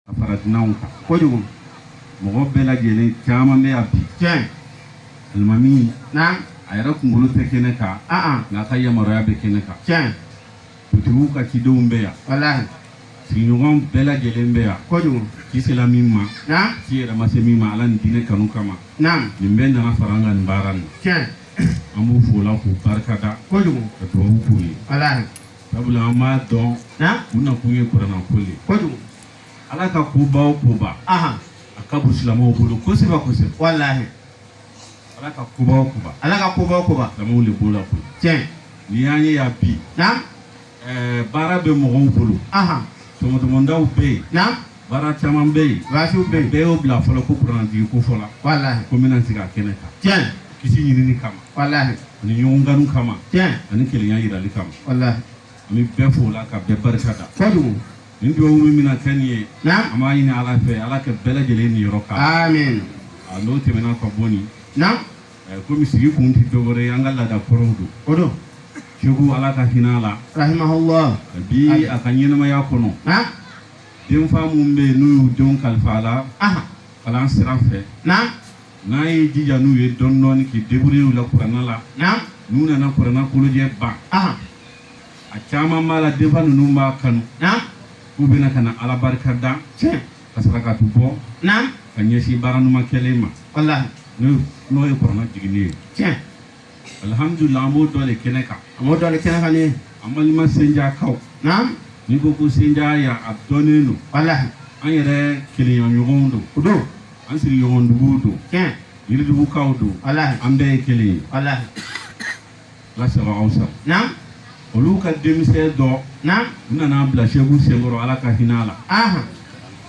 a fara dunanw kan kojugu mɔgɔ bɛɛ lajɛlen caman bɛ yan bi tiɲɛ alimami na a yɛrɛ kunkolo tɛ kɛnɛ kan an an nka a ka yamaruya bɛ kɛnɛ kan tiɲɛ dugutigi ka cidenw bɛ yan walahi sigiɲɔgɔn bɛɛ lajɛlen bɛ yan kojugu ci sera min ma na ci yɛrɛ ma se min ma ala ni diinɛ kanu kama na nin bɛɛ nana fara an kan nin baara nin tiɲɛ an b'u fo o la k'u barika da kojugu ka dubabu k'u ye walahi sabula an b'a dɔn u nakun ye kurannako ye kojugu ala ka kobaw koba a ka bon silamɛw bolo kosɛbɛ kosɛbɛ walahi ala ka kobaw koba ala ka kobaw koba silamɛw de b'o la ko tiɲɛ n'i y'an ye yan bi baara bɛ mɔgɔw bolo tɔmɔtɔmɔdaw bɛ yen baara caman bɛ yen baasiw bɛ yen bɛɛ y'o bila fɔlɔ ko kurannajigi ko fɔla walahi ko n bɛna sigi a kɛnɛ kan tiɲɛ kisi ɲinini kama walahi ani ɲɔgɔn kanu kama tiɲɛ ani kelenya yirali kama walahi an bɛ bɛɛ fo la ka bɛɛ barika da kojugu nin dugawu min bɛna kɛ nin ye na an b'a ɲini ala fɛ ala ka bɛɛ lajɛlen niyɔrɔ k'a la amin a n'o tɛmɛna ka bɔ nin na eh, komi sigi kun tɛ dɔwɛrɛ ye an ka laada kɔrɔw don o don seku ala ka hinɛ a la rahimahullah bi a ka ɲɛnɛmaya kɔnɔ na denfa minnu bɛ yen n'u y'u denw kalifa a la Aha. kalan sira fɛ Naam. n'a y'i jija n'u ye dɔɔni dɔɔni k'i débrouiller u la kuranna la Naam. n'u nana kuranna kolojɛ ban Aha. a caman b'a la denfa ninnu b'a kanu Naam. k'u bɛna ka na ala barika da Tiɲɛ. ka saraka dɔ bɔ Naam. ka ɲɛsin baara ɲuman kɛlen ma Walahi. n'o n'o ye kuranna jiginni ye Tiɲɛ. alihamudulila an b'o dɔ de kɛnɛ kan a b'o dɔ de kɛnɛ kan ni an balima senjakaw naam n'i ko ko senja yan a dɔnnen don walahi an yɛrɛ kelenyaɲɔgɔnw don o don an sigiɲɔgɔnduguw don tiɲɛ yiridugukaw don walahi an bɛɛ ye kelen ye walahi ala sago aw sago naam olu ka denmisɛn dɔ naam u nana bila seku senkɔrɔ ala ka hinɛ a la ahan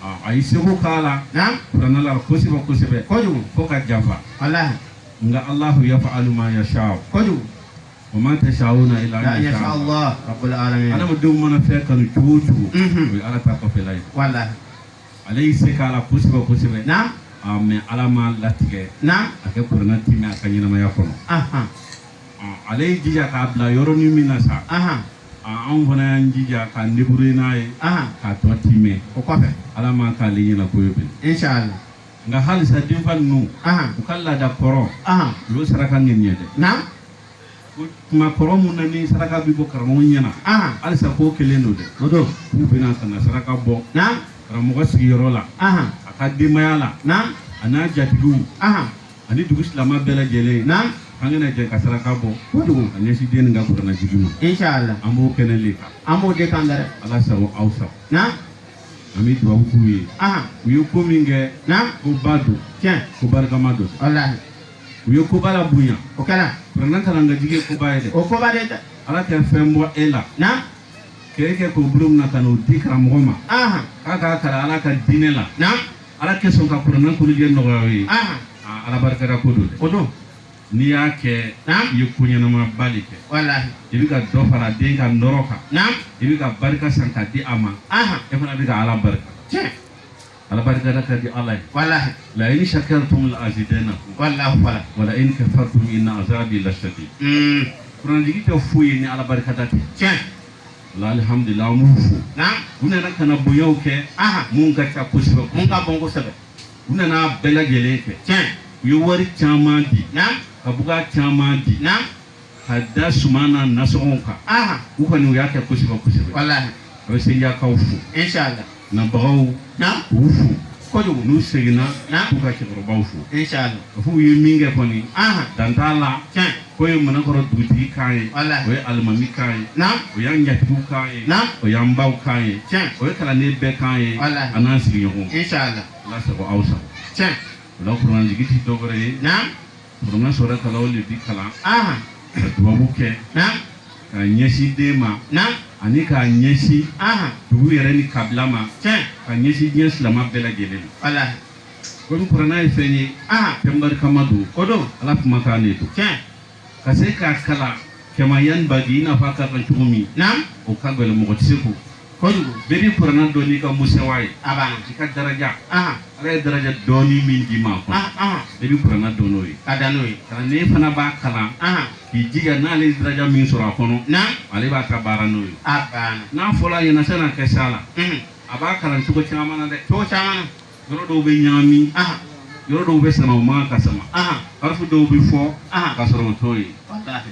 a a y'i seko k'a la naam kuranna la kosɛbɛ kosɛbɛ kojugu fo ka janfa walahi nka alahu yaf'alu ma yashau kojugu wa ma tashauna illa an yashaa allah rabbul alamin adamadenw mana fɛn kanu cogo cogo o ye ala ta kɔfɛla ye walahi ale y'i se k'a la kosɛbɛ kosɛbɛ naam mais ala m'a latigɛ na a ka kuranna timɛ a ka ɲɛnamaya kɔnɔ ale y'i jija k'a bila yɔrɔnin min na sa anw fana y'an jija ka debrouiller n'a ye k'a tɔ timɛ o kɔfɛ ala m'a k'ale ɲɛna ko ye bilen inchallah nka halisa denfa ninnu u ka laada kɔrɔ o le saraka nin ye dɛ kuma kɔrɔ mun na ni saraka bɛ bɔ karamɔgɔ ɲɛna halisa ko kelen don dɛ o don k'u bɛna ka na saraka bɔ karamɔgɔ sigiyɔrɔ la a ka denbaya la a n'a jatigiw ani dugu silama bɛɛ lajɛlen an ka na jɛ ka saraka bɔ kojugu ka ɲɛsin den nin ka kuranna jigi ma an b'o kɛnɛ le kan an b'o de kan dɛ ala sago aw sago an bɛ dubabu k'u ye ahan u ye ko min kɛ naam koba don tiɲɛ ko barikama don walahi u ye koba labonya o kɛra kuranɛ kalan k'a jigi ye koba ye dɛ o koba de dɛ ala ka fɛn bɔ e la naam k'e kɛ k'o bolo minɛ ka n'o di karamɔgɔ ma ahan k'a k'a kalan ala ka diinɛ la naam ala ka sɔn ka kuranɛ kolojɛ nɔgɔya aw ye ahan aa ala barikada ko don dɛ o don n'i y'a kɛ i ye ko ɲɛnamaba de kɛ i bɛ ka dɔ fara den ka nɔɔrɔ kan i bɛ ka barika san ka di a ma e fana bɛ ka ala barika ala barikada ka di ala ye la in shakartum la azidanna wa la in kafartum inna azabi lashadid kuranjigi tɛ foyi ye ni ala barikada tɛ alihamdulila an b'u fo u nana ka na bonyaw kɛ mun ka ca kosɛbɛ mun ka bon kosɛbɛ u nana bɛɛ lajɛlen fɛ tiɲɛ u ye wari caman di naamu ka buga caman di naamu ka da suman ani nasɔngɔw kan aha u kɔni u y'a kɛ kosɛbɛ kosɛbɛ walahi a bɛ sejakaw fo inshallah nabagaw naamu k'u fo kojugu n'u seginna Naamu. k'u ka cɛkɔrɔbaw fo inshallah k'a fɔ u ye min kɛ kɔni aha dan t'a la tiɲɛ k'o ye manankɔrɔ dugutigi kan ye o ye alimami kan ye o y'an jatigiw kan ye o y'an baw kan ye o ye kalanden bɛɛ kan ye a n'an sigiɲɔgɔn ala sago aw sago o la kuranjigi ti dɔwɛrɛ ye kuranɛ sadakalahu le bi kalan ka dubabu kɛ ka ɲɛsin den ma ani k'a ɲɛsin dugu yɛrɛ ni kabila ma ka ɲɛsin diɲɛ silama bɛɛ lajɛlen ma komi kurana ye fɛn ye ah. fɛn barikama don o don ala kumakan de don tiɲɛ ka se k'a kalan kama yanbagi i n'a fɔ a ka kan cogo min naam o ka gɛlɛn mɔgɔ tɛ se k'o kojugu bɛɛ bi kurana dɔn n'i ka musitawa ye a b'a i ka daraja ah. ala ye daraja dɔɔni min d'i ma kɔnɔ ah, bɛɛ bi kurana dɔn n'o ye ka da n'o ye kalanden fana b'a kalan k'i jija n'ale ye daraja min sɔrɔ a kɔnɔ naam ale b'a ka baara n'o ye a banna n'a fɔla a ɲɛ na san'a ka s'a la a b'a kalan cogo caman na dɛ cogo caman na yɔrɔ dɔw bɛ ɲaami yɔrɔ dɔw bɛ sama o man ka sama arafu dɔw bɛ fɔ ka sɔrɔ o t'o ye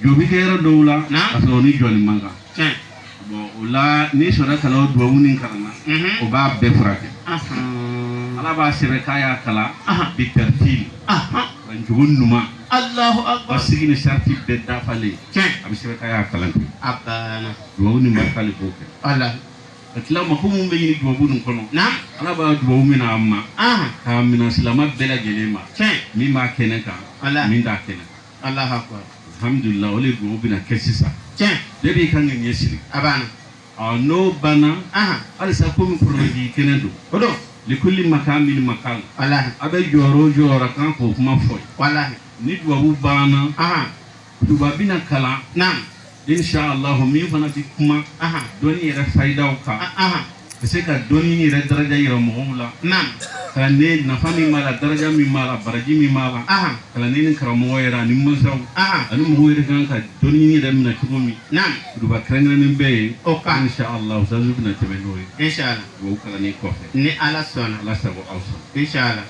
jɔ bi kɛ yɔrɔ dɔw la ka sɔrɔ ni jɔli man kan bɔn o la ni sadakalahu dubabu nin kalanna o b'a bɛɛ furakɛ ala b'a sɛbɛn k'a y'a kalan bi taritili a cogo ɲuman la k'a sigi ni sarati bɛɛ dafalen a bɛ sɛbɛn k'a y'a kalan kɛ dubabu nin barika le b'o kɛ ka tila mako minnu bɛ ɲini dubabu ninnu kɔnɔ ala b'a dubabu minɛ a ma k'a minɛ silama bɛɛ lajɛlen ma min b'a kɛnɛ kan min t'a kɛnɛ kan alhamdulila o de dubabu bɛna kɛ sisan bɛɛ b'i ka ŋaniya siri n'o banna halisa komi kuranjigi kɛnɛ don o don likuli makamin makal a bɛ jɔyɔrɔ o jɔyɔrɔ kan k'o kuma fɔ ni dubabu banna Duba bɛna kalan na insalah min fana bɛ kuma dɔnni yɛrɛ fayidaw kan ka se ka dɔnni yɛrɛ daraja yira mɔgɔw la kalan in nafa min b'a la daraja min b'a la baraji min b'a la kalanden ni karamɔgɔ yɛrɛ ani masaw ani mɔgɔw yɛrɛ kan ka dɔnni yɛrɛ minɛ cogo min duba kɛrɛnkɛrɛnnen bɛ yen insalah bɛna tɛmɛ n'o ye kalan kɔfɛ ni ala sɔnna ala sago aw sɔrɔ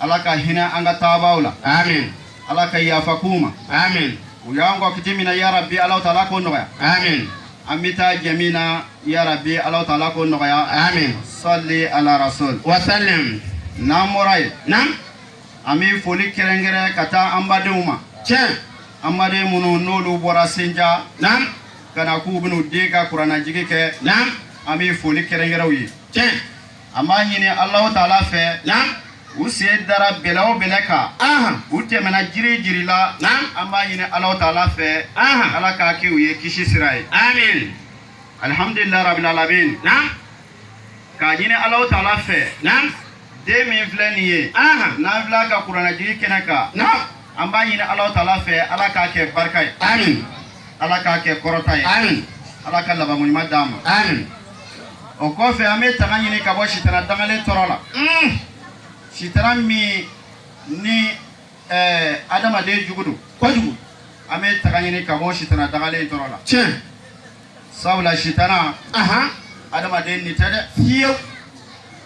ala ka hinɛ an ka taabaaw la amin ala ka yafa k'u ma amin u y'an kɔn kiti min na yarabi ala taala k'o nɔgɔya amin an bɛ taa jɛ min na yarabi ala taala k'o nɔgɔya amin sali ala rasul wasalim n'an bɔra yen naamu an bɛ foli kɛrɛnkɛrɛn ka taa an badenw ma tiɲɛ an baden minnu n'olu bɔra senja naamu ka na k'u bɛn'u den ka kuranajigi kɛ naamu an bɛ foli kɛrɛnkɛrɛn u ye tiɲɛ an b'a ɲini alahu taala fɛ na u sen dara bɛlɛ o bɛlɛ kan ahan u tɛmɛna jiri jiri la na an b'a ɲini alahu taala fɛ ahan ala k'a kɛ u ye kisi sira ye amin alihamdulilayi rabil alamin na k'a ɲini alahu taala fɛ na den min filɛ nin ye ahan n'an filɛ a ka kuranɛjigi kɛnɛ kan na an b'a ɲini alahu taala fɛ ala k'a kɛ barika ye amin ala k'a kɛ kɔrɔta ye amin ala ka labankoɲuman d'a ma amin o kɔfɛ an bɛ tanga ɲini ka bɔ sitana dangalen tɔɔrɔ la mm. sitana min ni eh, adamaden jugu don kojugu an bɛ tanga ɲini ka bɔ sitana dangalen tɔɔrɔ la tiɲɛ sabula sitana adamaden ɲin tɛ dɛ fiyewu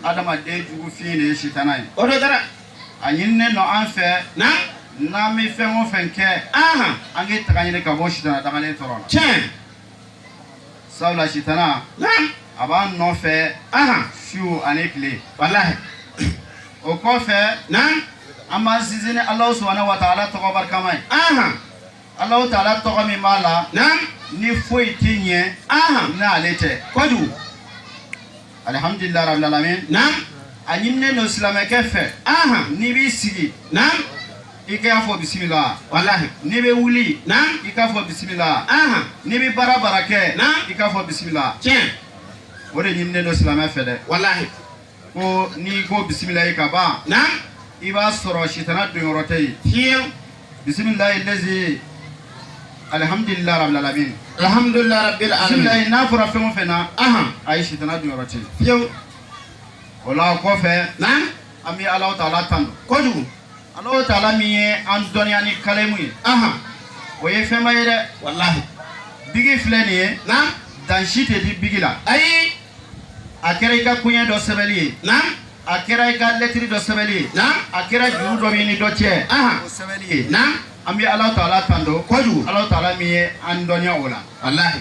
adamaden jugu fin de ye sitana ye o de kɛra a ɲininen don an fɛ n'an bɛ fɛn o fɛn kɛ an k'i tanga ɲini ka bɔ sitana dangalen tɔɔrɔ la tiɲɛ sabula sitana a b'an nɔfɛ su ani tile o kɔfɛ an b'an sinsin ni Alahu subahana wataala tɔgɔ barikama ye Alahu taala tɔgɔ min b'a la ni foyi tɛ ɲɛ n'ale tɛ kojugu alihamudulila rabil alamin a ɲininen don silamɛkɛ fɛ n'i b'i sigi i k'a fɔ bisimila walahi n'i bɛ wuli na i k'a fɔ bisimila ahan n'i bɛ baara baara kɛ na i k'a fɔ bisimila tiɲɛ o de ɲininen don silamɛ fɛ dɛ walahi ko n'i ko bisimilayi ka ban na i b'a sɔrɔ sitana donyɔrɔ tɛ yen fiyewu bisimilayi lezi alihamdulilayi rabil alamin alhamdulilayi rabil alamin bisimilayi n'a fɔra fɛn o fɛn na ahan a ye sitana donyɔrɔ tɛ yen fiyewu o la kɔfɛ na an bɛ Alahu taala tanu kojugu, Alahu taala min ye an dɔnniya ni kalemu ye, anhan, o ye fɛnba ye dɛ, walahi, biki filɛ nin ye, naamu, dan si tɛ di biki la, ayi, a kɛra i ka koɲɛ dɔ sɛbɛnni ye, naamu, a kɛra i ka lɛtiri dɔ sɛbɛnni ye, naamu, a kɛra juru dɔ b'i ni dɔ cɛ, anhan, o sɛbɛnni ye, naamu, an bɛ Alahu taala tanu kojugu, Alahu taala min ye an dɔnniya o la, walahi.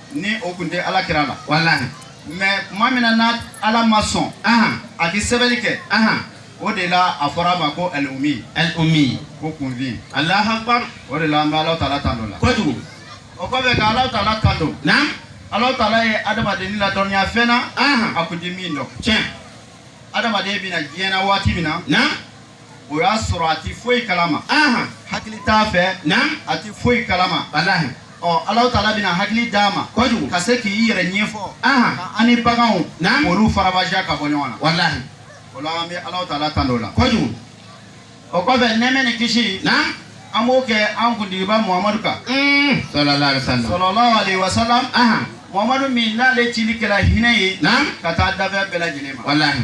ni o tun tɛ ala kira la walahi mɛ tuma min na n'a ala ma sɔn a ka sɛbɛnni kɛ o de la a fɔra a ma ko alumi alumi ko kunfin alahu akibaru o de la an bɛ alahu taala tando o la kojugu o kɔfɛ ka alahu taala tando naam alahu taala ye adamaden ladɔnniya fɛn na a tun tɛ min dɔn tiɲɛ adamaden bɛ na diɲɛ na waati min na na o y'a sɔrɔ a tɛ foyi kalama hakili t'a fɛ a tɛ foyi kalama ɔ ala taala bɛna hakili d'a ma kojugu ka se k'i yɛrɛ ɲɛfɔ an ni baganw olu faranfasiya ka bɔ ɲɔgɔn na walahi o la an bɛ ala taala tando o la kojugu o kɔfɛ nɛɛma ni kisi an b'o kɛ an kuntigiba muhamadu kan salalahu alayihi wa salamu muhamadu min n'ale cili kɛra hinɛ ye ka taa danfɛn bɛɛ lajɛlen ma walahi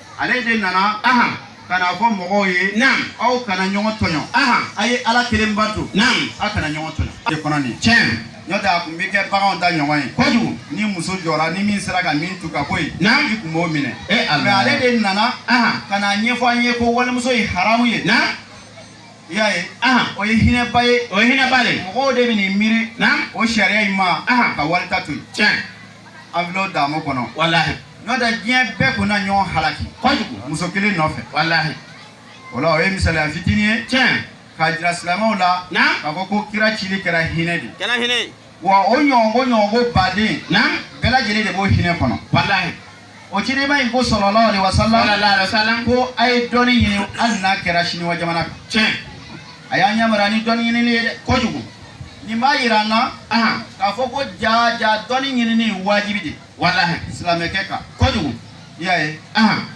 ale de nana ahan ka n'a fɔ mɔgɔw ye naam aw kana ɲɔgɔn tɔɲɔ ahan a ye ala kelen bato naam aw kana ɲɔgɔn tɔɲɔ de kɔnɔ nin tiɲɛ n'o tɛ a kun bɛ kɛ baganw ta ɲɔgɔn ye kojugu ni muso jɔra ni min sera ka min tu ka bɔ yen naam i kun b'o minɛ e ala mɛ ale de nana ahan ka n'a ɲɛfɔ an ye ko walimuso ye haramu ye naam i y'a ye ahan o ye hinɛba ye o ye hinɛba de ye mɔgɔw de man'i miiri naam o sariya in ma ahan ka wali ta to yen tiɲɛ an bɛ daamu kɔnɔ walahi n'o tɛ diɲɛ bɛɛ kun na ɲɔgɔn halaki kojugu muso kelen nɔfɛ walahi o la o ye misaliya fitinin ye tiɲɛ k'a jira silamɛw la k'a fɔ ko kira cili kɛra hinɛ de kɛra hinɛ wa o ɲɔgɔnko ɲɔgɔnko baden bɛɛ lajɛlen de b'o hinɛ kɔnɔ walahi o cidenba in ko salalahu alayihi wa salamu ko a ye dɔnni ɲini hali n'a kɛra siniwa jamana kan tiɲɛ a y'an yamaruya ni dɔnni ɲinini ye dɛ kojugu nin b'a yira an na k'a fɔ ko ja ja dɔnni ɲinini ye wajibi de walahi silamɛkɛ kan kojugu i y'a ye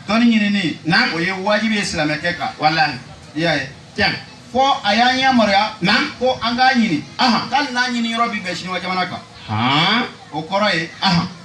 dɔnni ɲinini na o ye wajibi ye silamɛkɛ kan walahi i y'a ye tiɲɛ fɔ a y'an yamaruya na ko an k'a ɲini hali n'a ɲini yɔrɔ bi bɛn siniwa jamana kan o kɔrɔ ye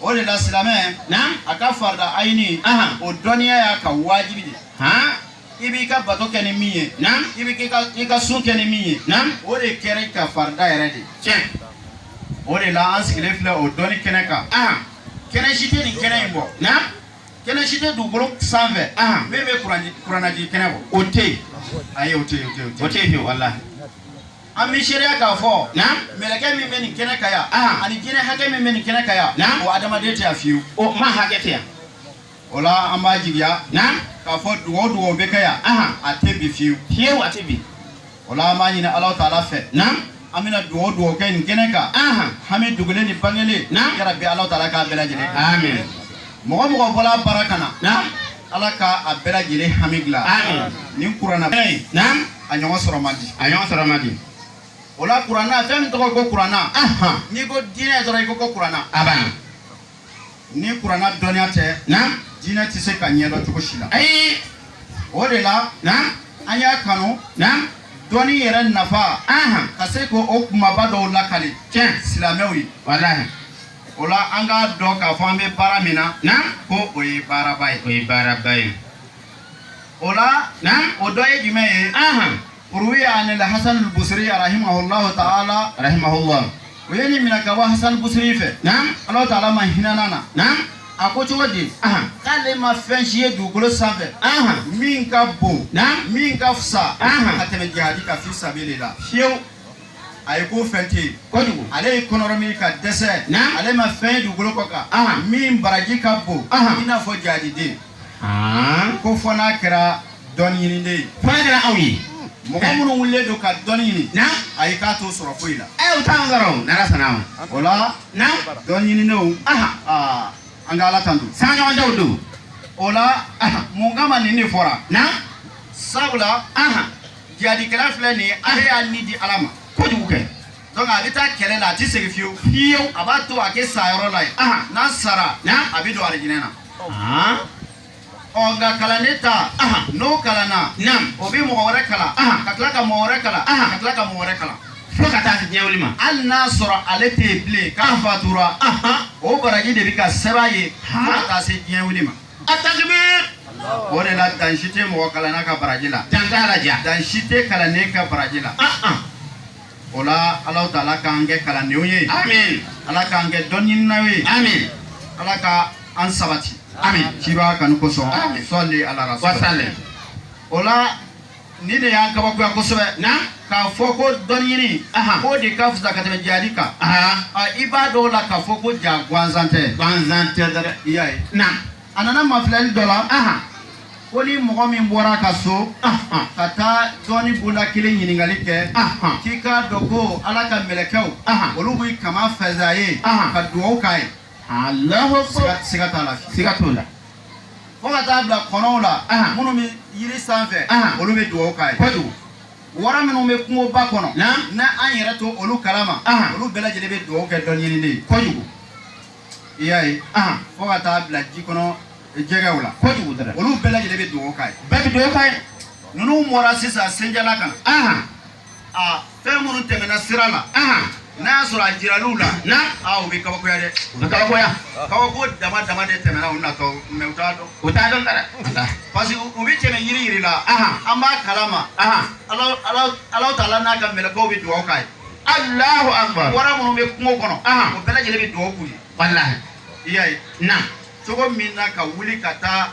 o de la silamɛ a ka farida ayini o dɔnniya y'a ka wajibi de i b'i ka bato kɛ ni min ye i bɛ i ka sun kɛ ni min ye o de kɛra i ka farida yɛrɛ de tiɲɛ o de la an sigilen filɛ o dɔnni kɛnɛ kan kɛnɛ si tɛ nin kɛnɛ in bɔ kɛnɛ si tɛ dugukolo sanfɛ min bɛ kurannaji kɛnɛ bɔ o tɛ yen ayi o tɛ yen o tɛ yen o tɛ yen walahi an b'a seereya k'a fɔ mɛlɛkɛ min bɛ nin kɛnɛ kan yan ah. ani jinɛ hakɛ min bɛ nin kɛnɛ kan yan o adamaden tɛ yan fiyewu o maa hakɛ tɛ yan o la an b'a jigiya k'a fɔ dugawu dugawu bɛ kɛ yan a tɛ bin fiyewu fiyewu a tɛ bin o la an b'a ɲini ala taala fɛ an bɛna dugawu dugawu kɛ nin kɛnɛ kan hami dogolen ni bangelen yɛrɛ bɛ ala taala k'a bɛɛ lajɛlen amen mɔgɔ mɔgɔ bɔla baara kana ala ka a bɛɛ lajɛlen hami dilan nin kuranna a ɲɔgɔn sɔrɔ man di a ɲɔgɔn sɔrɔ man di o la kuranna fɛn min tɔgɔ ko kuranna n'i ko diinɛ dɔrɔn i ko ko kuranna a b'a ni kuranna dɔnniya tɛ na diinɛ tɛ se ka ɲɛdɔn cogo si la ayi o de la na an y'a kanu na dɔnni yɛrɛ nafa ka se ko o kumaba dɔw lakali tiɲɛ silamɛw ye walahi o la an k'a dɔn k'a fɔ an bɛ baara min na na ko o ye baaraba ye o ye baaraba ye o la o dɔ ye jumɛn ye ruwiya anil hasan basiri rahimahullahu ta'ala rahimahullahu o ye nin minɛ ka bɔ hasan basiri fɛ ala ta'ala ma hinɛ a la a ko cogo di k'ale ma fɛn si ye dugukolo sanfɛ min ka bon min ka fisa ka tɛmɛ jihadi kan fi sabili lahi fiyewu a ye ko fɛn tɛ yen kojugu ale ye kɔnɔrɔ min ka dɛsɛ ale ma fɛn ye dugukolo kɔ kan min baraji ka bon i n'a fɔ jihadiden ko fo n'a kɛra dɔnni ɲiniden ye fo n'a kɛra aw ye mɔgɔ minnu wulilen don ka dɔnni ɲini ayi k'a t'o sɔrɔ foyi la ɛ u t'an sɔrɔ o n'ala sɔnna ma o la dɔnni ɲinidenw an ka ala tando sanɲɔgɔndaw don o la mun kama nin de fɔra sabula jihadikɛla filɛ nin ye ale y'a ni di ala ma kojugu kɛ donc a bɛ taa kɛlɛ la a tɛ segin fiyewu fiyewu a b'a to a ka sa yɔrɔ la yen n'a sara a bɛ don alijinɛ na ɔ nka kalanden ta n'o kalanna o bɛ mɔgɔ wɛrɛ kalan ka tila ka mɔgɔ wɛrɛ kalan ka tila ka mɔgɔ wɛrɛ kalan fo ka taa se diɲɛwuli ma hali n'a sɔrɔ ale tɛ yen bilen k'a fatura o baraji de bɛ ka sɛbɛn a ye fo ka taa se diɲɛwuli ma A tati o de la dan si tɛ mɔgɔ kalan ka baraji la dan dan si tɛ kalan ka baraji la o la ala taala k'an kɛ kalandenw ye ala k'an kɛ dɔn ye ala ka an sabati ci b'a kan kosɔn sɔ ala o la nin de y'an kabakoya kosɛbɛ k'a fɔ ko dɔnni ɲini k'o de ka fisa ka tɛmɛ jihadi kan i b'a dɔn o la k'a fɔ ko jaa gansan tɛ gansan tɛ dɛ i y'a ye a nana mafilɛli dɔ la ko ni mɔgɔ min bɔra ka so ka taa dɔnni bonda kelen ɲininkali kɛ k'i k'a dɔn ko ala ka mɛlɛkɛw olu b'u kaman fɛnsɛn a ye ka dugawu k'a ye siga t'a la siga t'o la fo ka taa bila kɔnɔw la minnu bɛ yiri sanfɛ olu bɛ dugawu k'a ye kojugu wara minnu bɛ kungoba kɔnɔ n'an yɛrɛ t'olu kalama olu bɛɛ lajɛlen bɛ dugawu kɛ dɔnni ɲinina ye kojugu i y'a ye fo ka taa bila ji kɔnɔ jɛgɛw la kojugu dɛ olu bɛɛ lajɛlen bɛ dugawu k'a ye bɛɛ bɛ dugawu k'a ye ninnu bɔra sisan senjala kan aa fɛn minnu tɛmɛna sira la n'a y'a sɔrɔ a jiral'u la na aa u bɛ kabakoya dɛ u bɛ kabakoya kabako dama dama de tɛmɛna u natɔ mais u t'a dɔn u t'a dɔn dɛ parce que u bɛ tɛmɛ yiri yiri la an b'a kalama ala taala n'a ka mɛlɛkɛw bɛ dugawu k'a ye alahu akbar wara minnu bɛ kungo kɔnɔ o bɛɛ lajɛlen bɛ dugawu k'u ye walahi i y'a ye na cogo min na ka wuli ka taa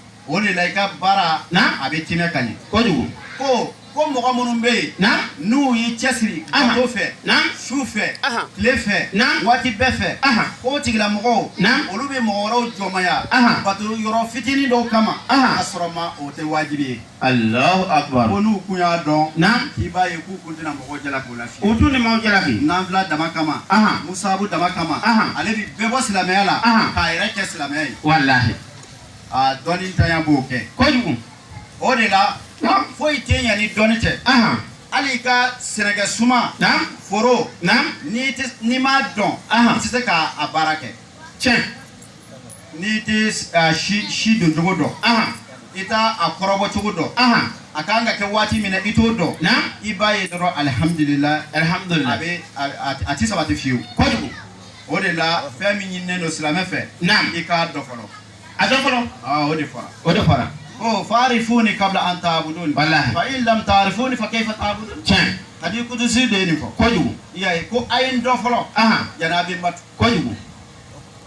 o de la i ka baara a bɛ tiɲɛ ka ɲɛ kojugu ko ko mɔgɔ minnu bɛ yen n'u y'i cɛsiri o fɛ su fɛ tile fɛ waati bɛɛ fɛ ko tigila mɔgɔw olu bɛ mɔgɔ wɛrɛw jɔnmaya bato yɔrɔ fitinin dɔw kama ka sɔrɔ ma o tɛ wajibi ye ko n'u kun y'a dɔn i b'a ye k'u kun tɛna mɔgɔ jalaki o la u dun bɛ mɔgɔ jalaki nafila dama kama musabu dama kama ale bɛ bɛɛ bɔ silamɛya la k'a yɛrɛ kɛ silamɛya ye A dɔnnintanya b'o kɛ kojugu o de la foyi tɛ ɲɛ ni dɔnni tɛ hali ka sɛnɛ kɛ suman foro n'i m'a dɔn i tɛ se k'a baara kɛ cɛ n'i tɛ si doncogo dɔn i t' a kɔrɔbɔcogo dɔn a ka kan ka kɛ waati min i t'o dɔn i b'a ye dɔrɔn alihamdulila alihamdulila a tɛ sabati fewu kojugu o de la fɛn min ɲininen don silamɛ fɛ Naam. i k'a dɔn fɔlɔ a dɔn fɔlɔ Aa, o de fɔra o de fɔra ko faarifuni kabla an taabuduni Walahi. fa in lam taarifuni fa keifa taabuduni tiɲɛ hadi kudusi de ye nin fɔ kojugu i y'a ye ko a ye n dɔn fɔlɔ ahan yanni a bɛ n bato kojugu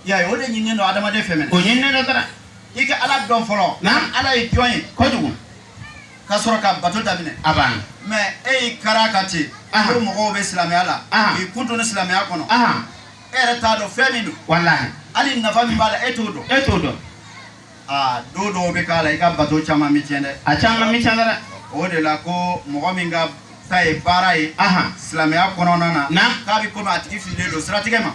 i y'a ye o de ɲininen don adamaden fɛ min o ɲininen don taara i ka ala dɔn fɔlɔ Naam. ala ye jɔn ye kojugu ka sɔrɔ ka bato daminɛ aa mais e y'i kara ka ten ko mɔgɔw bɛ silamɛya la k'i kun don silamɛya kɔnɔ e yɛrɛ t'a dɔn fɛn min don walahi hali nafa min b'a la e t'o dɔn e t'o dɔn aa don dɔw bɛ k'a la i ka bato caman bɛ tiɲɛ dɛ a caman bɛ tiɲɛ dɛ o de la ko mɔgɔ min ka ta ye baara ye silamɛya kɔnɔna na k'a bɛ komi a tigi fililen don siratigɛ ma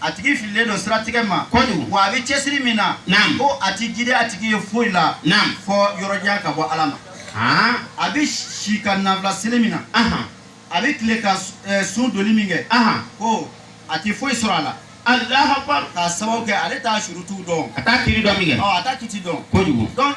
a tigi fililen don siratigɛ ma kojugu wa a bɛ cɛsiri min na naam ko a ti jidi a tigi ye foyi la naam fo yɔrɔjanya ka bɔ ala ma haa a bɛ si ka nafila seli min na ahan a bɛ tile ka s- eh, sun donni min kɛ ahan ko a ti foyi sɔrɔ a la alahu akbar k'a sababu kɛ ale t'a surutu dɔn a t'a kiti dɔn min kɛ ɔ a t'a kiti dɔn kojugu donc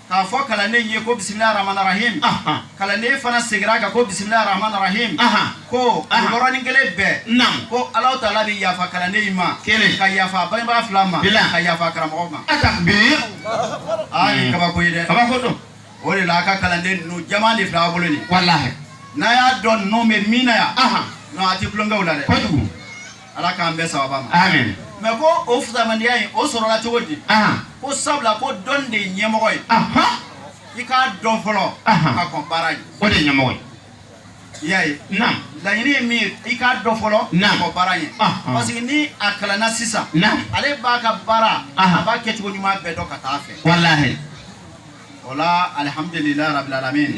k'a fɔ kalanden ye ko bisimila ramanarahim kalanden fana seginna a kan ko bisimila ramanarahim ko o yɔrɔnin kelen bɛɛ ko ala taala bɛ yafa kalanden in ma kelen ka yafa bangebaga fila ma ka yafa karamɔgɔ ma bi aa nin kabako ye dɛ kabako don o de la a ka kalanden ninnu jama de filɛ a bolo nin walahi n'a y'a dɔn ninnu bɛ min na yan non a tɛ tulon kɛ u la dɛ kojugu Ala k'an bɛɛ saba ma mɛ ko o fisamantiya in o sɔrɔla cogo di ko sabula ko dɔn de ye ɲɛmɔgɔ ye i k'a dɔn fɔlɔ ka kɔn baara ɲɛ o de ɲɛmɔgɔ ye i y'a ye laɲini ye min ye i k'a dɔn fɔlɔ kɔn baara ɲɛ parce que ni a kalanna sisan ale b'a ka baara a b'a kɛ cogo ɲuman bɛɛ dɔn ka taa fɛ wala o la alihamdulilayi rabilalamin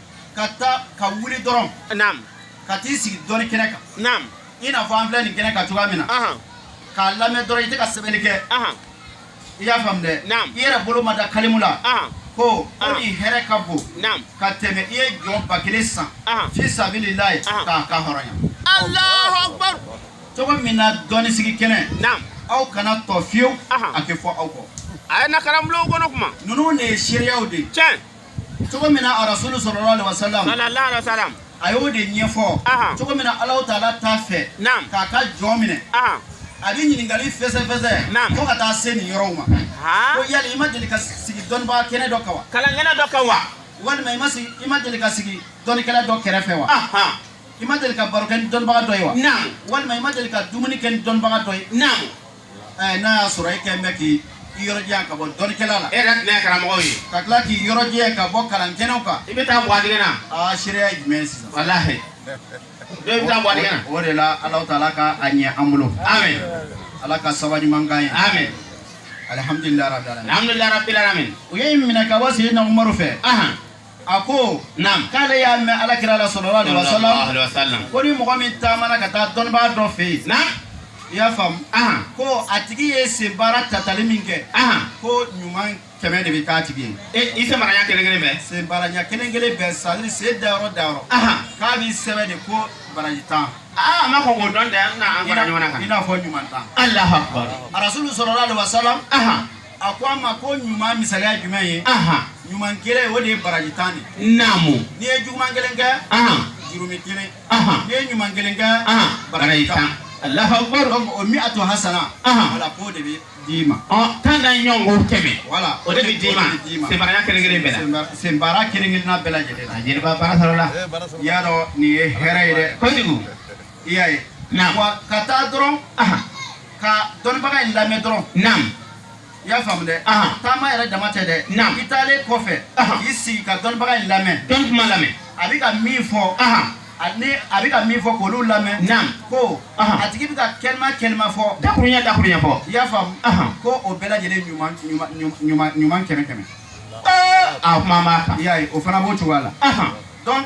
ka taa ka wuli dɔrɔn ka t'i sigi dɔni kɛnɛ kan i n'a fɔ an filɛ nin kɛnɛ kan cogoya min na k'a lamɛn dɔrɔn i tɛ ka sɛbɛnni kɛ i y'a faamu dɛ i yɛrɛ bolo ma da kalimu la ko o nin hɛrɛ ka bon ka tɛmɛ i ye jɔn ba kelen san fi sabililahi k'a ka hɔrɔnya Alahu Akbar cogo min na dɔnnisigi kɛnɛ aw kana a to fiyewu a ka fɔ aw kɔ a ye na karamɔgɔw kɔnɔ kuma ninnu de ye seereyaw de ye tiɲɛ cogo min na a rasulu sallallahu alaihi wasallam sallallahu alaihi wasallam a y'o de ɲɛfɔ Ahan. cogo min na ala taala t'a fɛ Naam. k'a ka jɔn minɛ ah a bɛ ɲininkali fɛsɛfɛsɛ Naam. fo ka taa se nin yɔrɔw ma ha ko yali i ma deli ka sigi dɔnnibaga kɛnɛ dɔ kan wa kalankɛnɛ dɔ kan wa walima i ma sigi i ma deli ka sigi dɔnnikɛla dɔ kɛrɛfɛ wa aha i ma deli ka baro kɛ ni dɔnnibaga dɔ ye wa naamu walima i ma deli ka dumuni kɛ ni dɔnnibaga dɔ ye naamu Ɛɛ n'a y'a sɔrɔ e kɛ bɛ k'i i yɔrɔ janya ka bɔ dɔnnikɛla la e yɛrɛ tɛ karamɔgɔ ye ka tila k'i yɔrɔ janya ka bɔ kalan kɛnɛ kan i bɛ taa bɔ na aa se jumɛn sisan wala bɛ taa bɔ na o de la ala taala ka a ɲɛ an bolo ala ka sababu ɲuman ye alihamidulilarabilalamina ka bɔ sen na fɛ a ko naamu k'ale y'a mɛn ala kira la sallallahu alaihi wasallam ko ni mɔgɔ min taamana ka taa dɔnnibaa dɔ fɛ yen naamu i y'a faamu ko a tigi ye sen baara tatali min kɛ ko ɲuman kɛmɛ de bɛ k'a tigi ye e, i senbaara ɲɛ kelen kelen bɛɛ sen baara ɲɛ kelen kelen bɛɛ c'est-à-dire sen dayɔrɔ dayɔrɔ k'a bɛ sɛbɛn de ko baraji tan aa a ma kɔn k'o dɔn dɛ an bɛna a fara ɲɔgɔn kan i n'a fɔ ɲuman tan alahu akbar arasulu sallallahu alaihi wasallam a ko a ma ko ɲuman misali ye jumɛn ye ɲuman kelen o de ye baraji tan ye naamu n'i ye juguman kelen kɛ jurumu kelen n'i ye ɲuman kelen kɛ baraji tan Allahu akbar o mi'atu hasana wala k'o de bɛ d'i ma tan na ɲɔgɔn ko kɛmɛ wala o de bɛ d'i ma senbaaraya kelen kelen bɛɛ la senbaara kelen kelenna bɛɛ lajɛlen la jeliba baara sɔrɔ la i y'a dɔn nin ye hɛrɛ ye dɛ kojugu i y'a ye naam wa ka taa dɔrɔn aha ka dɔnnibaga in lamɛn dɔrɔn naam i y'a faamu dɛ Ahan. taama yɛrɛ dama tɛ dɛ Naam. i taalen kɔfɛ Ahan. k'i sigi ka dɔnnibaga in lamɛn dɔn kuma lamɛn a bɛ ka min fɔ aha ani a bɛ ka min fɔ k'olu lamɛn Naam. ko Ahan. a tigi bɛ ka kalima kalima fɔ dakurunya dakurunya fɔ i y'a faamu Ahan. ko o bɛɛ lajɛlen ɲuman ɲuman ɲuman ɲuman kɛmɛ kɛmɛ a kuma b'a kan i y'a ye o fana b'o cogoya la aha donc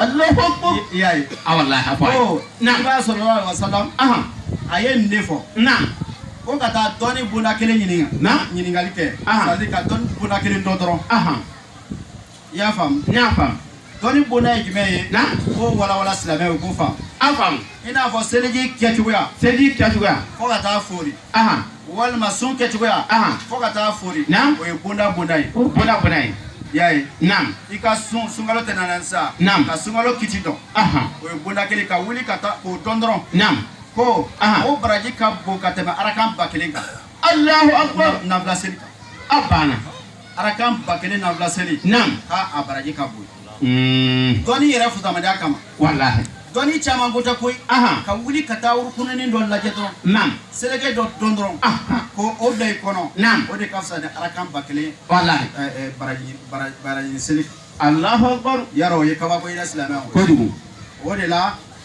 i y'a ye awala a fɔ a ye na salalahu alayihi wasalam a ye nin de fɔ naam ko ka taa dɔnni bonda kelen ɲininka naam ɲininkali kɛ sigi ka dɔnni bonda kelen dɔn dɔrɔn i y'a faamu n y'a faamu dɔnni bonda ye jumɛn ye naam k'o walawala silamɛw k'o faamu an faamu I n'a fɔ seliji kɛ cogoya seliji kɛ cogoya fo ka taa foori walima sun kɛ cogoya fo ka taa foori o ye bonda bonda ye bonda bonda ye y'a ye naamu i ka sun sunkalo tɛna na sa naamu ka sunkalo kiti dɔn o ye bonda kelen ka wuli ka taa k'o dɔn dɔrɔn naamu ko o baraji ka bon ka tɛmɛ arakan ba kelen kan alahu akubaru nafila seli kan a banna Arakan ba kelen nafila seli a baraji ka bon dɔnni yɛrɛ fisamanciya kama dɔnni caman ko tɛ koyi ka wuli ka taa yɔrɔ kunkurunnin dɔ lajɛ dɔrɔn seliko dɔ dɔn dɔrɔn ko o bila i kɔnɔ o de ka fisa ni arakan ba kelen baraji seli alahu akbar yarɔ o ye kabako ye silamɛ kojugu o de la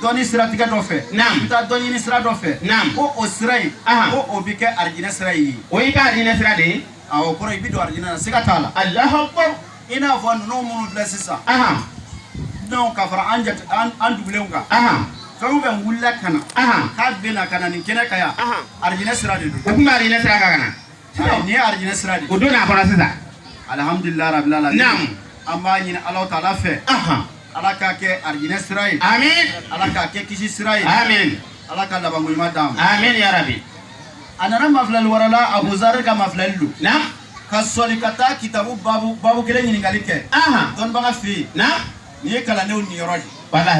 dɔnni siratigɛ dɔ fɛ i bɛ taa dɔnni sira dɔ fɛ ko o sira in ko o bɛ kɛ arijinɛ sira ye o y'i ka arijinɛ sira de ye awɔ kɔrɔ i bɛ don arijinɛ na siga t'a la Alahu akibaru i n'a fɔ ninnu minnu filɛ sisan dunanw ka fara an jate an dugulenw kan fɛn o fɛn wulila ka na k'a bɛna ka na nin kɛnɛ kan yan arijinɛ sira de don o tun bɛ arijinɛ sira kan ka na Nin ye alijinɛ sira de o don n'a fana sisan alihamudulila rabil alamin naamu an b'a ɲini ala taala fɛ ala k'a kɛ alijinɛ sira ye amin ala k'a kɛ kisi sira ye amin ala ka labanko ɲuman d'an ma amin yarabi a nana mafilali wɛrɛ la abuzari ka mafilali don naamu ka sɔli ka taa kitabu babu babu kelen ɲininkali kɛ dɔnnibaga fɛ yen naamu Nin ye kalandenw niyɔrɔ ye bala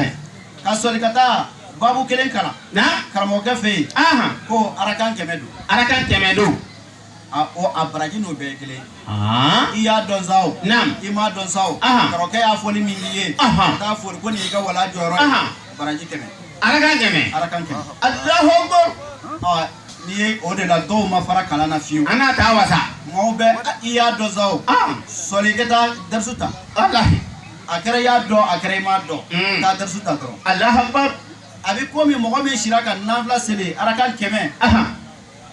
ka sɔli ka taa babu kelen kalan na karamɔgɔkɛ fɛ yen ko arakan kɛmɛ don arakan kɛmɛ don o a baraji n'o bɛɛ kelen i y'a dɔn sa o i m'a dɔn sa o karamɔgɔkɛ y'a fɔ ni min k'i ye ka taa foori ko nin y'i ka wala jɔyɔrɔ baraji kɛmɛ arakan kɛmɛ arakan kɛmɛ alahu akibaru n'i ye o de la dɔw ma fara kalan na fiyewu an n'a taa wasa mɔgɔw bɛ i y'a dɔn sa o sɔli i ka taa dɛrisu ta ala a kɛra i y'a dɔn a kɛra i m'a dɔn mm. k'a darisu ta dɔrɔn Alahu akbar a bɛ komi mɔgɔ min sira ka nafila seli araka kɛmɛ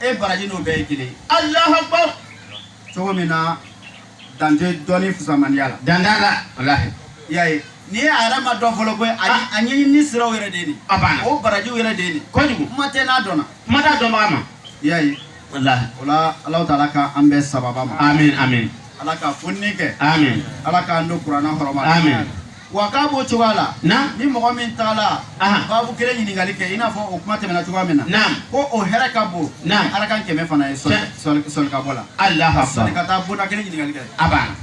e baraji n'o bɛɛ ye kelen Alahu akbar cogo min na dan tɛ dɔnni fisamanya la dan t'a la walahi i y'a ye n'i ye a yɛrɛ ma dɔn fɔlɔ koyi a ah. ɲɛɲini siraw yɛrɛ de ye nin o barajiw yɛrɛ de ye nin kojugu kuma tɛ n'a dɔnna kuma t'a dɔnbaga ma i y'a ye walahi o la Ala taala ka an bɛɛ sababa ma amin amin Ala ka fonni kɛ amin Ala k'an don kuranɛ hɔrɔma amin wa k'a b'o cogoya la naam ni mɔgɔ min taala babu kelen ɲininkali kɛ i n'a fɔ o kuma tɛmɛna cogoya min na naam ko o hɛrɛ ka bon naam araka kɛmɛ fana ye sɔli ka bɔ la Alahu akbar sɔli ka taa bonda kelen ɲininkali kɛ a banna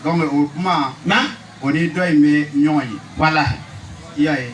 donc o kuma naam o ni dɔ in bɛ ɲɔgɔn ye walahi i y'a ye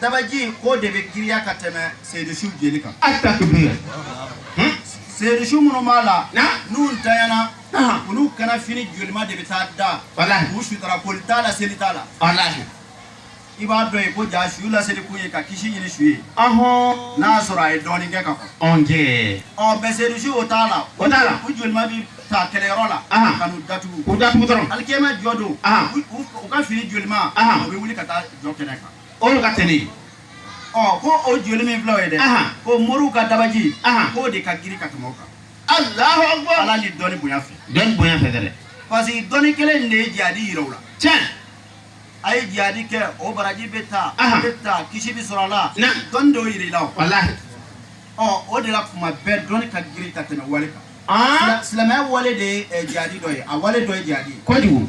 Dabaji k'o de bɛ giriya ka tɛmɛ seyidusu jeli kan a ta seyidusu minnu b'a la n'u tayana olu kanna fini jolilima de bɛ taa da u suta ko t'a la seli t'a la i b'a dɔn yen ko ja su la seli kun ye ka kisi ɲini su ye n'a sɔrɔ a ye dɔɔnin kɛ ka fɔ ɔ bɛ seyidusu o t'a la o t'a la u jolilima bɛ ta kɛlɛyɔrɔ la ka n'u datugu u datugu dɔrɔn alikiyama jɔ don u ka fini jolilima u bɛ wuli ka taa jɔ kɛnɛ kan olu ka teli ɔ ko o joli min filaw ye dɛ Ahan. ko moriw ka dabaji Ahan. k'o de ka girin ka tɛmɛ o kan alahu akbar ala ni dɔnni bonya fɛ dɔnni bonya fɛ dɛ parce que dɔnni kelen in de ye jihadi yira u la tiɲɛ a ye jihadi kɛ o baraji bɛ ta a Ahan. bɛ ta kisi bɛ sɔrɔ a la naam dɔnni de y'o yira i la o walahi ɔ o de la kuma bɛɛ dɔnni ka girin ka tɛmɛ wale kan aa Sila- silamɛya wale de ye eh, jihadi dɔ ye a wale dɔ ye jihadi ye kojugu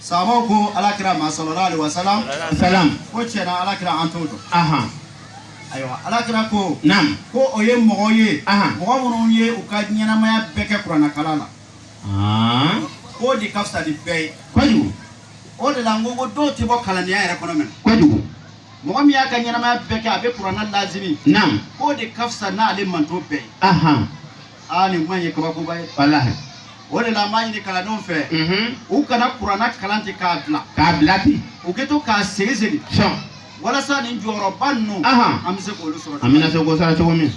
Saabaw ko alakira ma salalahu alayhi wa salam ko tiɲɛ na alakira an t'o dɔn ayiwa alakira ko ko o ye mɔgɔ ye mɔgɔ minnu ye u ka ɲɛnamaya bɛɛ kɛ kuranɛkalan la k'o de ka fisa bɛɛ ye kojugu o de la n ko ko dɔw tɛ bɔ kalandenya yɛrɛ kɔnɔ mɛn kojugu mɔgɔ min y'a ka ɲɛnamaya bɛɛ kɛ a bɛ kuranɛ laazimi k'o de ka fisa n'ale mantɔn bɛɛ ye aa nin kuma in ye kabakoba ye walahi o de la an b'a ɲini kalandenw fɛ mhm u kana kuranɛ kalan ten k'a bila k'a bila ten u ka to k'a segin segin sɔn walasa nin jɔyɔrɔba ninnu Ahan. an bɛ se k'olu sɔrɔ an bɛna se k'o sara cogo min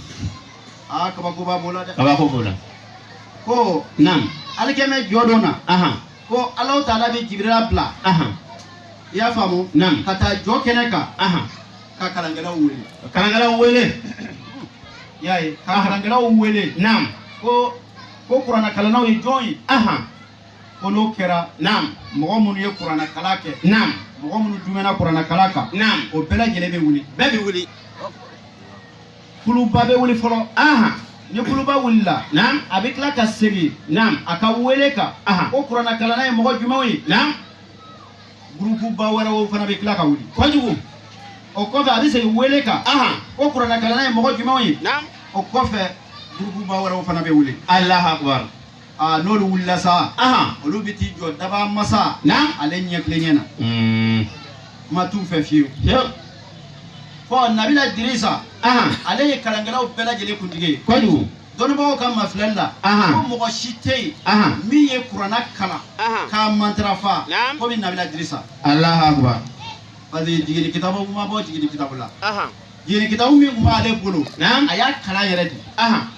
aa kabakoba b'o la dɛ kabako b'o la ko naam alikiyama jɔ don na ahan ko alahu taala bɛ jibirila bila ahan i y'a faamu naam ka taa jɔ kɛnɛ kan ahan ka kalankɛlaw wele ka kalankɛlaw wele i y'a ye ka kalankɛlaw wele naam ko ko kuranakalannaw ye jɔn ye ahan ko n'o kɛra naam mɔgɔ minnu ye kuranakalan kɛ naam mɔgɔ minnu duumɛna kuranakalan kan naam o bɛɛ lajɛlen bɛ wuli bɛɛ bɛ wuli kuluba bɛ wuli fɔlɔ ahan ni kuluba wulila naam a bɛ tila ka segin naam a ka wele kan ahan ko kuranakalanna ye mɔgɔ jumɛnw ye naam gurupuba wɛrɛw fana bɛ tila ka wuli kojugu o kɔfɛ a bɛ segin wele kan ko kuranɛkalanna ye mɔgɔ jumɛnw ye o kɔfɛ gurupuba wɛrɛw fana bɛ wuli alahu akubaru aa n'olu wulila sa olu bɛ t'i jɔ dabaa masa ale ɲɛ tilenya na hmm. kuma t'u fɛ fiyewu fɔ nabila dirisa ale ye kalankɛlaw bɛɛ lajɛlen kuntigi ye kojugu dɔnnibagaw ka mafilɛli la ko mɔgɔ si tɛ yen min ye kurana kalan k'a matarafa komi nabila dirisa alahakuba parce que jigini kitabu ma bɔ jigini kitabu la jigini kitabu min tun b'ale bolo a y'a kalan yɛrɛ de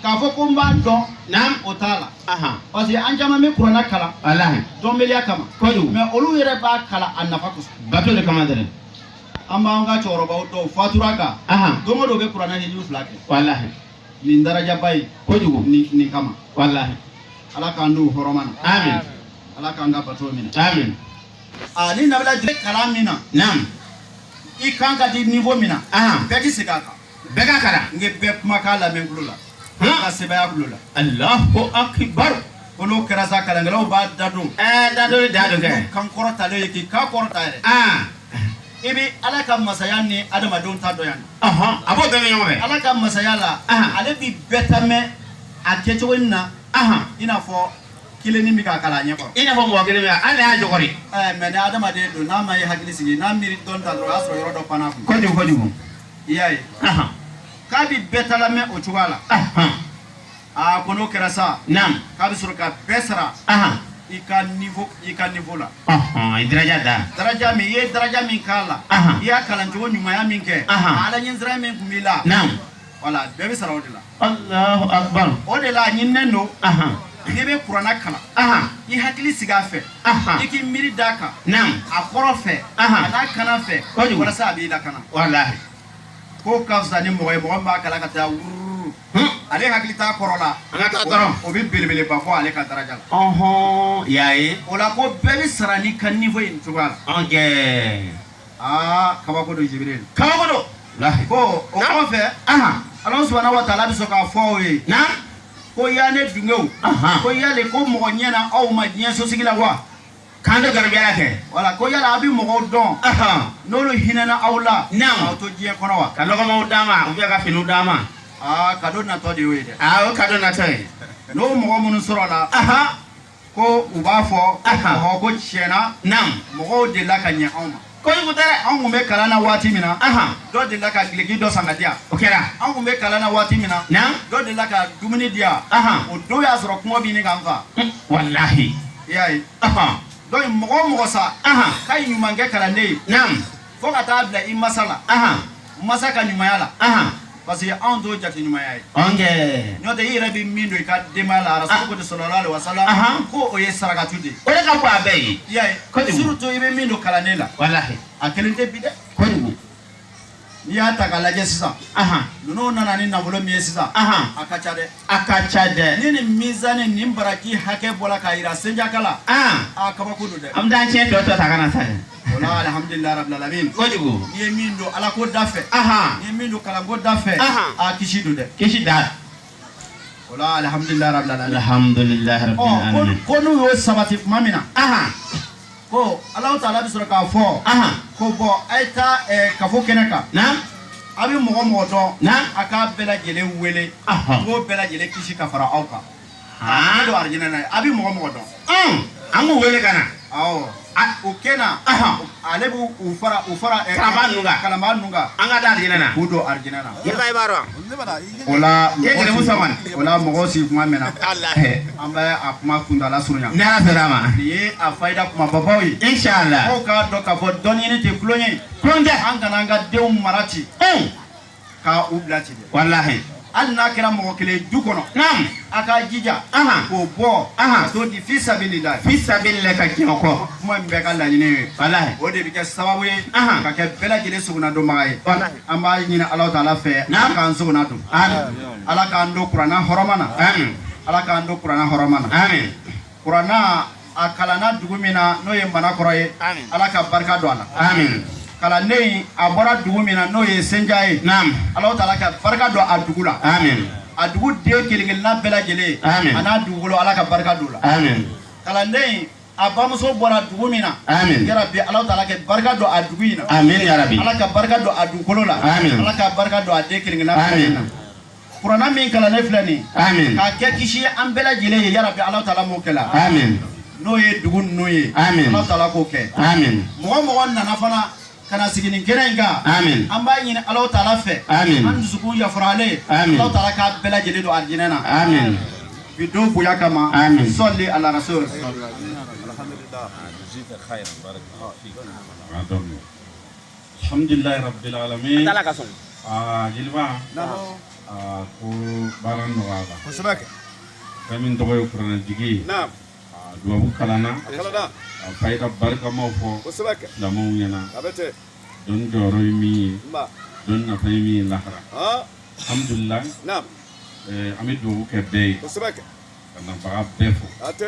k'a fɔ ko n b'a dɔn o t'a la parce que an caman bɛ kurana kalan dɔnbaliya kama mais olu yɛrɛ b'a kalan a nafa kosɔn bato de kama dɛrɛ an b'an ka cɛkɔrɔbaw dɔw fatura kan don o don u bɛ kurana ni fila kɛ nin darajaba ye kojugu nin nin kama walahi ala k'an d'u hɔrɔma na amin ala k'an ka bato minɛ amin a ni nabila jire kalan min na naam i kan ka di niveau min na ahan bɛɛ k'i segin a kan bɛɛ k'a kalan n ye bɛɛ kumakan lamɛn kulo la n ka sebaya kulo la allahu akibar ko n'o kɛra sa kalankɛlaw b'a dadon ɛɛ dadon dadon kɛ kan kɔrɔtalen ye k'i kan kɔrɔta yɛrɛ an i bɛ ala ka masaya ni adamadenw ta dɔn yan ka bɔ ɲɔgɔn na ala ka masaya la ale bɛ bɛɛ ta mɛn a kɛ cogo min na i n'a fɔ kelen min b'a kalan a ɲɛkɔrɔ i n'a fɔ mɔgɔ kelen bɛ ala y'a ɲɛkɔrɔ mais ni adamaden don n'a m'a hakili sigi n'a miiri dɔ ta dɔrɔn o y'a sɔrɔ yɔrɔ dɔ fana kun kojugu kojugu i y'a ye k'a bɛ bɛɛ ta mɛn o cogoya la Aa ko n'o kɛra sa naamu k'a bɛ sɔrɔ ka bɛɛ sara i ka i ka niveau la dara daraja min i ye daraja min k'a la i y'a kalancogo ɲumanya min kɛ ala ɲɛsiran min tun b'i la voilà bɛɛ bɛ sara o de la o de la a ɲininen don n'i bɛ kurana kalan i hakili sigi a fɛ i k'i miiri d'a kan a kɔrɔ fɛ a n'a kalan fɛ walasa a b'i lakana k'o ka fisa ni mɔgɔ ye mɔgɔ b'a kalan ka taa wuru ale hakili t'a kɔrɔ la o bɛ belebeleba bɔ ale ka daraja la i y'a ye o la ko bɛɛ bɛ sara n'i ka niveau ye nin cogoya la aa kabako don ajib kabako don ko o kɔfɛ ala subuhanahu wa taala bɛ sɔrɔ k'a fɔ u ye ko ya ne dungew ko yala ko mɔgɔ ɲɛna aw ma diɲɛ sosigi la wa K'an ka garibuya kɛ wala ko yala aw bɛ mɔgɔw dɔn n'olu hinɛna aw la aw to diɲɛ kɔnɔ wa ka dɔgɔmaw d'a ma u bɛ ka fini d'a ma ka don natɔ de y'o ye dɛ o ka don natɔ ye n'o mɔgɔ minnu sɔrɔla ko u b'a fɔ ko diɲɛ na mɔgɔw delila ka ɲɛ anw ma Ko anw tun bɛ kalan na waati min na dɔ delila ka biki dɔ san ka di an o kɛra anw tun bɛ kalan na waati min na dɔ delila ka dumuni di an o don y'a sɔrɔ kɔngɔ bɛ ɲini k'an faa walahi i y'a ye donc mɔgɔ o mɔgɔ sera ka ɲuman kɛ kalanden ye fo ka taa bila i masa la masa ka ɲumanya la parce que anw t'o jate ɲumanya ye. ɔnkɛ. n'o tɛ i yɛrɛ bɛ min don i ka denbaya la arasulu ko di salalahu alayihi wasalam. ko o ye sarakatu de ye. o de ka bon a bɛɛ ye. i y'a ye. kojugu surtout i bɛ min don kalanden la. walahi. a kelen tɛ bi dɛ. kojugu. n'i y'a ta k'a lajɛ sisan. ninnu nana ni nafolo min ye sisan. a ka ca dɛ. a ka ca dɛ. ni nin mizani nin baraji hakɛ bɔra k'a jira senjakaw la. a kabako don dɛ. an bɛ taa tiɲɛ tɔ tɔ ta ka na sa dɛ. Alihamidulila rabili alamina kojugu i ye min don ala ko da fɛ i ye min don kalanko da fɛ a kisi don dɛ kisi don walahi alihamidulila bilalahamidulila ko n'u y'o sabati tuma min na ko ala taala bɛ sɔrɔ k'a fɔ ko bɔn a ye taa kafo kɛnɛ kan a bɛ mɔgɔ o mɔgɔ dɔn a k'a bɛɛ lajɛlen wele a b'o bɛɛ lajɛlen kisi ka fara aw kan ne don arijinɛ na a bɛ mɔgɔ o mɔgɔ dɔn an k'u wele ka na u ka na ale b' u fara u fara kala ninnu kala ninnu kan ka taa arijinɛ na k'u don arijinɛ na i b'a o la gɛlɛn sama o la mɔgɔ sigi kuma mɛn an bɛ a kuma kuntaala surunya ni an sera a ma nin ye a fayida kuma babaw ye e si la k' k'a dɔn ka fɔ dɔnniɲini tɛ tulon ye tulon tɛ an kana an ka denw mara ten ka u bila ten walahi hali n'a kɛra mɔgɔ kelen du kɔnɔ naam a k'a jija k'o bɔ ka t'o di fi sabili la fi sabili la ka jɛn o kɔ kuma min bɛɛ ka laɲini ye walahi o de bɛ kɛ sababu ye ka kɛ bɛɛ lajɛlen sogonadonbaga ye an b'a ɲini ala taala fɛ ala k'an sogona don ala k'an don kuranna hɔrɔma na ala k'an don kuranna hɔrɔma na kuranna a kalanna dugu min na n'o ye manankɔrɔ ye ala ka barika don a la kalanden a bɔra dugu min na n'o ye senja ye ala taala ka barika don a dugu la a dugu den kelenkelenna bɛɛ lajɛlen a n'a dugukolo ala ka barika don a la kalanden a bamuso bɔra dugu min na yarabi ala taala ka barika don a dugu in na ala ka barika don a dugukolo la ala ka barika don a den kelenkelenna bɛɛ lajɛlen na kurana min kalannen filɛ nin amin k'a kɛ kisi ye an bɛɛ lajɛlen ye yarabi ala taala m'o kɛla amin n'o ye dugu ninnu ye amin ala taala k'o kɛ amin mɔgɔ mɔgɔ nana fana ka na sigi nin kɛnɛ in kan amin an b'a ɲini ala taala fɛ amin an dusukun yafaralen amin ala taala k'a bɛɛ lajɛlen don alijinɛ na amin bi don bonya kama amin sɔli ala rasul alhamdulillah alhamdulilayi rabbil alamin ala ka sɔn aa jeliba aa ko baara nɔgɔyala kosɛbɛ kɛ fɛn min tɔgɔ ye kuranɛjigin ye naam aa dubabu kalanna a kalanna a fayida barikamaw fɔ kosɛbɛ kɛ lamɔw ɲɛna a bɛ ten dɔnni jɔyɔrɔ ye min ye nba dɔnni nafa ye min ye lahara aa alhamdulilayi naam ɛɛ an bɛ dubabu kɛ bɛɛ ye kosɛbɛ kɛ ka nabaga bɛɛ fo a tɛ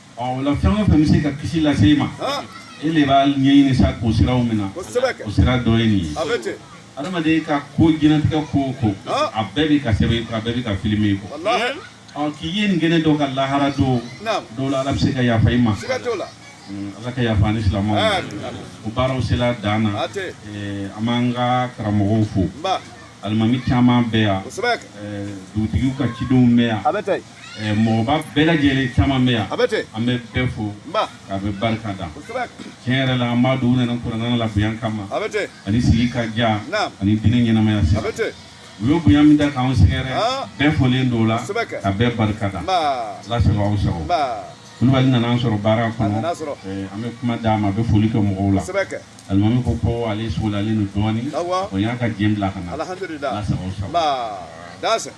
O la fɛn o fɛn bɛ se ka kisi lase e ma e de b'a ɲɛɲini sa ko sira min na o sira dɔ ye nin ye adamaden ka ko i tigɛ ko o ko a bɛɛ bɛ ka sɛbɛn a bɛɛ bɛ ka filime kɔ ɔ k'i ye nin kɛnɛ dɔ kan lahara don o la ala bɛ se ka yafa i ma ala ka yafa an silamɛw baaraw sera dan na an b'an ka karamɔgɔw fo alimami caman bɛ yan dugutigi ka cidenw bɛ yan Eh, mɔgɔba bɛɛ lajɛlen caman bɛ yan an bɛ bɛɛ fo ka bɛɛ barika da tiɲɛ yɛrɛ la an b'a dɔn u nana kurana labonya kama ani sigi ka diya ani diinɛ ɲɛnamaya sira u ye bonya min da k'anw sɛgɛrɛ ah. bɛɛ folen don o la ka bɛɛ barika da ala sago aw sago kulubali nana an sɔrɔ baara kɔnɔ eh, an bɛ kuma d'a ma a bɛ foli kɛ mɔgɔw la alimami ko ko ale sogolalen don dɔɔnin o y'a ka jɛ bila ka na ala sago aw sago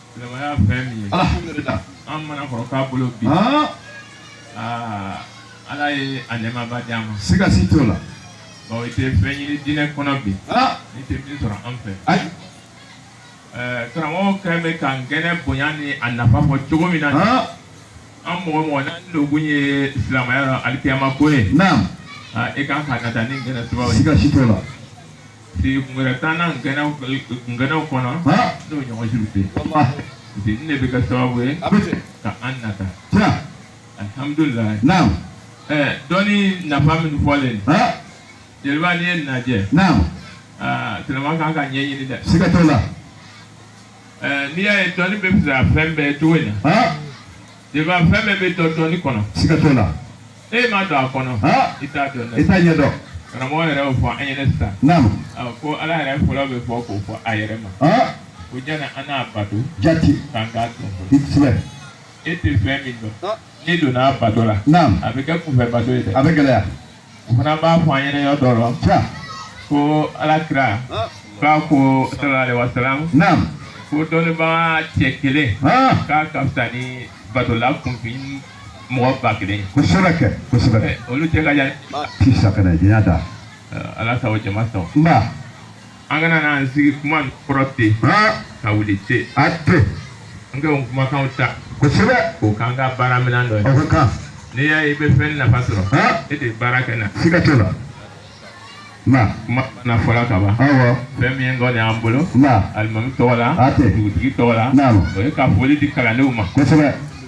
Silamɛya fɛn min ye. Alhamdulila. An Manankɔrɔkaw bolo bi. Haan. Aa Ala ye a nɛɛmaba di an ma. Siga si t'o la. Ɔ i tɛ fɛn ɲini diinɛ kɔnɔ bi. Haa. I tɛ min sɔrɔ an fɛ. Ayi. Ɛɛ karamɔgɔ kɛlen bɛ ka nin kɛnɛ bonya ni a nafa fɔ cogo min na. Haan. An mɔgɔ mɔgɔ n'an donkun ye silamɛya la alikiyama ko ye. Naamu. Aa i kan ka nata nin kɛnɛ sifaw ye. Siga si t'o la. wɛrɛ t'an na kɛnɛw kɛnɛw kɔnɔ n'o ɲɔgɔn si tɛ parce que nin de bɛ kɛ sababu ye ka an nata alihamudulila naam ɛɛ dɔnni nafa min fɔlen jeliba n'i y'a lajɛ naam aa tiɲɛ na a ka kan ka ɲɛɲini dɛ siga t'o la ɛɛ n'i y'a ye dɔnni bɛ fisaya fɛn bɛɛ cogo in na Jeliba fɛn bɛɛ bɛ dɔn dɔnni kɔnɔ. Siga t'o la. E ma don a kɔnɔ. I t'a dɔn dɛ. I t'a ɲɛ dɔn. Karamɔgɔ yɛrɛ y'o fɔ an ɲɛna sisan. Naamu. Ko Ala yɛrɛ fɔlɔ bɛ bɔ k'o fɔ a yɛrɛ ma. Ko jani an n'a bato. Jati. K'an k'a dɔn. I kosɛbɛ. E tɛ fɛn min dɔn. N'i donna a bato la. Naamu. A bɛ kɛ kunfɛ bato ye dɛ. A bɛ gɛlɛya. o fana b'a fɔ an ɲɛna yɔrɔ dɔ la ja ko ala kira k'a ko sallallahu alaihi wasallam naam ko dɔnnibaga cɛ kelen ah k'a ka fisa ni batola kunfin mɔgɔ ba kelen ye kosɛbɛ kɛ kosɛbɛ Ɛ, olu cɛ ka jan ti safinɛ diɲɛ da ala sago jama sago nba an kana n'an sigi kuma kɔrɔ ten ka wuli ten a ten an ka kumakanw ta kosɛbɛ o k'an ka baara minɛn dɔ ye o ka kan n'i y'a ye i bɛ fɛn nafa sɔrɔ e de ye baara kɛ na siga t'o la na kuma na fɔla ka ban awɔ fɛn min ye kɔni y'an bolo na alimami tɔgɔ la a ten dugutigi tɔgɔ la naamu o ye ka foli di kalandenw ma kosɛbɛ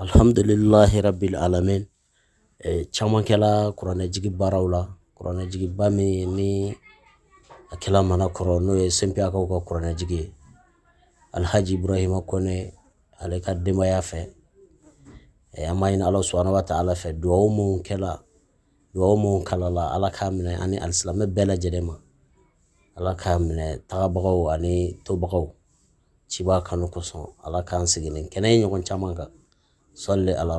Alihamdulilahi rabil alamina caman kɛla kuranɛjigi baaraw la kuranɛjigiba min ni a kɛla manankɔrɔ n'o ye sɛbɛnkaw ka kuranɛjigi ye alihaji burahima kɔnɛ ale ka denbayaya fɛ an b'a ɲini ala subhana wa taala fɛ dugawu minnu kɛra dugawu minnu kalanna ala k'a minɛ ani alisilamɛ bɛɛ lajɛlen ma ala k'a minɛ tagabagaw ani tobagaw ciba kanu kosɔn ala k'an sigilen kɛnɛ ye ɲɔgɔn caman kan salli ala